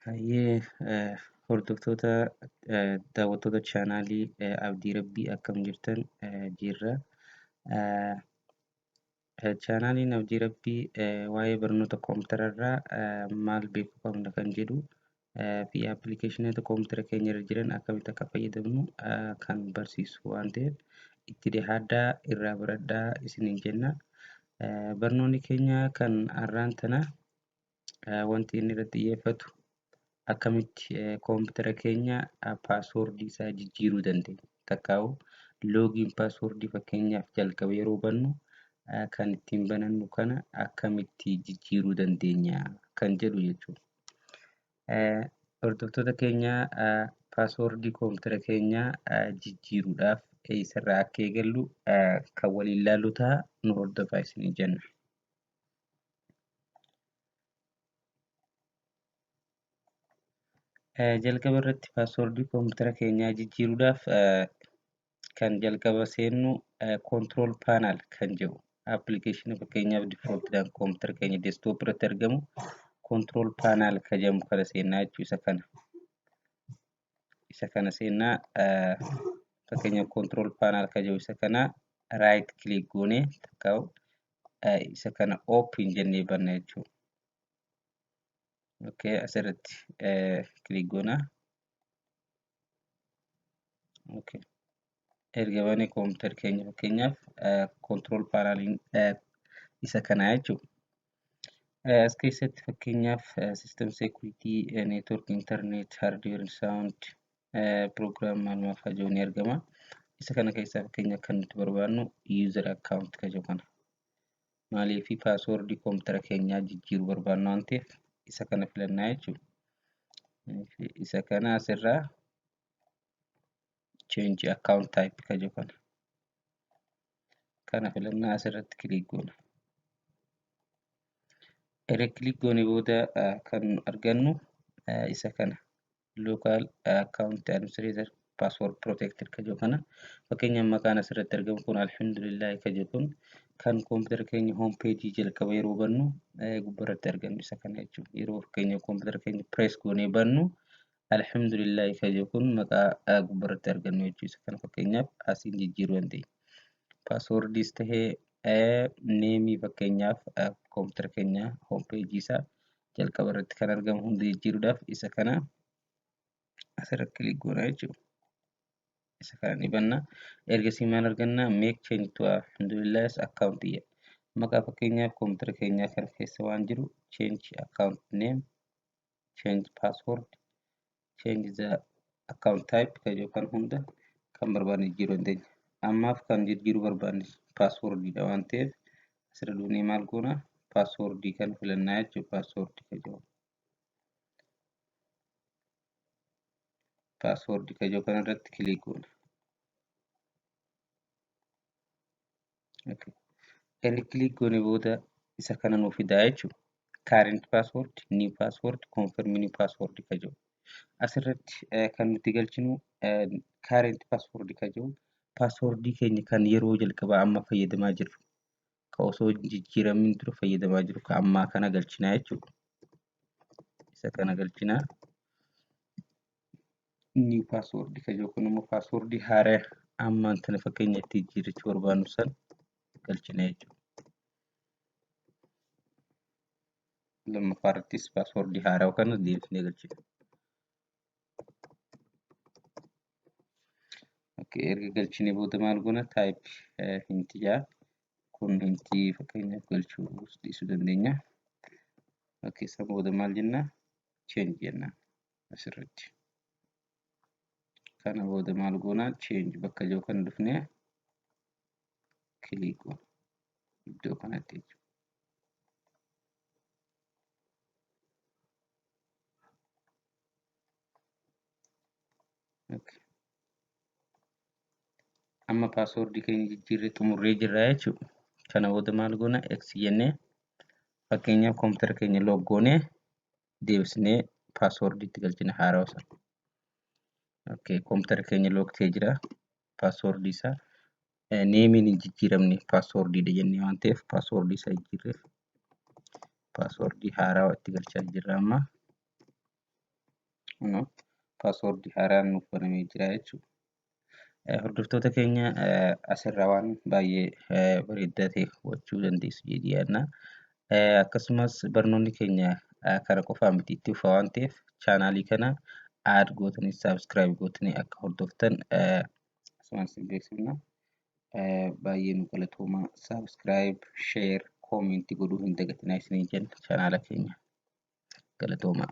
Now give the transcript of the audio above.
Hayyee eh, hordoftoota eh, daawwattoota chaanaalii eh, Abdii Rabbii akkam jirtan eh, jirra. Eh, Chaanaaliin Abdii Rabbii waa'ee barnoota koompitara irraa maal beekuu qabna kan jedhu fi appilikeeshinoota koompitara keenya irra jiran akkamitti akka fayyadamnu kan barsiisu waan ta'eef itti dhihaadhaa irraa baradhaa isiniin jenna. Barnoonni keenya kan har'aan tana wanti inni irratti xiyyeeffatu akkamitti koompitara keenya paaswoordii isaa jijjiiruu dandeenya. Takkaa'u loogiin paaswoordii fakkeenyaaf jalqaba yeroo bannu kan ittiin banannu kana akkamitti jijjiiruu dandeenya kan jedhu jechuudha. Hordoftoota keenya paaswoordii koompitara keenya jijjiiruudhaaf eessarraa akka eegallu kan waliin ilaallu ta'a nu hordofaa isiniin jenna. jalqaba irratti paaswordii koompitara keenyaa jijjiiruudhaaf kan jalqaba seennu control panel kan jedhu appilikeeshinii fakkeenyaaf defaultidhaan koompitara keenya desktop irratti argamu control panel kan jedhamu kana seennaa jechuu isa kana. isa kana seennaa fakkeenyaaf control panel ka jiru isa kana right click goone takka isa kana open jennee banna jechuudha. Okay, asirratti click goona. Okay. erga banee kompiitar keenya fakkeenyaaf kontirool paanaaliin isa kanaa jechuudha. As keessatti fakkeenyaaf siistem seekuriitii, neetwoork, intarneet, haardiweer, saawundi, piroogiraam maal maal fa'aa jiru ni argama. Isa kana keessaa fakkeenyaaf kan nuti barbaannu yuuzar akkaawunt kan jiru kana. Maaliif paaswoordii kompiitara keenyaa jijjiiruu barbaanna waan ta'eef isa kana filannaa jechuudha. Isa kana asirraa change account type ka jiru kana kana filannaa asirratti kiliik goona erga kiliik goone booda kan argannu isa kana local account administrator password protected ka jiru kana fakkeenyaaf maqaan asirratti argamu kun alhamdulillah ka jiru kun kan koompitara keenya home page jalqaba yeroo bannu gubbarratti argamu isa kana jechuudha yeroo fakkeenyaaf koompitara keenya press goonee bannu Alhamdulillahi ka jiru kun maqaa gubbarratti argannu jechuudha. Kana fakkeenyaaf asiin jijjiiruu dandeenya. Paaswoordiis tahee neemii fakkeenyaaf koompitara keenya hoompeejii isaa jalqaba irratti kan argamu hunda jijjiiruudhaaf isa kana asirratti kilik goona jechuudha. Isa kana ni banna. Ergasii maal arganna? Meek cheenji tu alhamdulillaahis akkaawuntii jedha. Maqaa fakkeenyaaf koompitara keenyaa kana keessa waan jiru cheenji akkaawunti neem change password change the account type kan jedhu kan hunda kan barbaanne jijjiiruu dandeenya. Ammaaf kan jijjiiruu barbaanne paaswoordiidha waan ta'eef asirra duunee maal goona paaswoordii kan filannaa jechuudha paaswoordii kan jedhu. Paaswoordii kan jedhu kanarratti kiliik goona. Erga click goone booda isa kana nuuf fidaa jechuudha. Current password, new password, confirm new password ka jiru. Asirratti eh, kan nuti galchinu eh, current password ka jiru. Password keenya kan yeroo jalqabaa amma fayyadamaa jirru. Ka osoo hin jijjiiramiin dura fayyadamaa jiru ka ammaa kana galchinaa jechuudha. Isa kana galchinaa. new password kan yookiin immoo password haaraa ammaan tana fakkeenya itti jijjiirrachuu barbaannu san galchina jechuudha. Lammaffaa irrattis password haaraa kana deebisnee galchina. Okay, erga galchine booda maal goona type hinti jaa kun hinti fakkeenyaaf galchuu dhiisuu dandeenya. Okay, san booda maal jenna change jenna. asirratti kana booda maal goonaa change bakka jiru kan dhufnee click goona iddoo kanatti jechuudha. Okay. Amma paaswoordii keenya jijjiirree xumurree jirra jechuudha. Kana booda maal goona x jennee fakkeenyaaf koompitara keenya loog goonee deebisnee password itti galchina haarawa sana. Okay, computer keenya lock ta'ee jira. Password isaa neemiin hin jijjiiramne password dha jennee waan ta'eef password isaa jijjiirreef password haarawa itti galchaa jirra amma. Password haaraan nuuf banamee jira jechuudha. Hordoftoota keenya asirraa waan baay'ee bareedaa ta'e hubachuu dandeessu jedhee yaadna. Akkasumas barnoonni keenya kara qofaa miti itti fufa waan ta'eef chaanaalii kana aad gootanii saabskiraayib gootanii akka hordoftan asumaan isin beeksifna. Baay'ee nu galatooma saabskiraayib, sheer, koomentii godhuu hin dagatinaa isiniin jenna chaanaala keenya galatoomaa.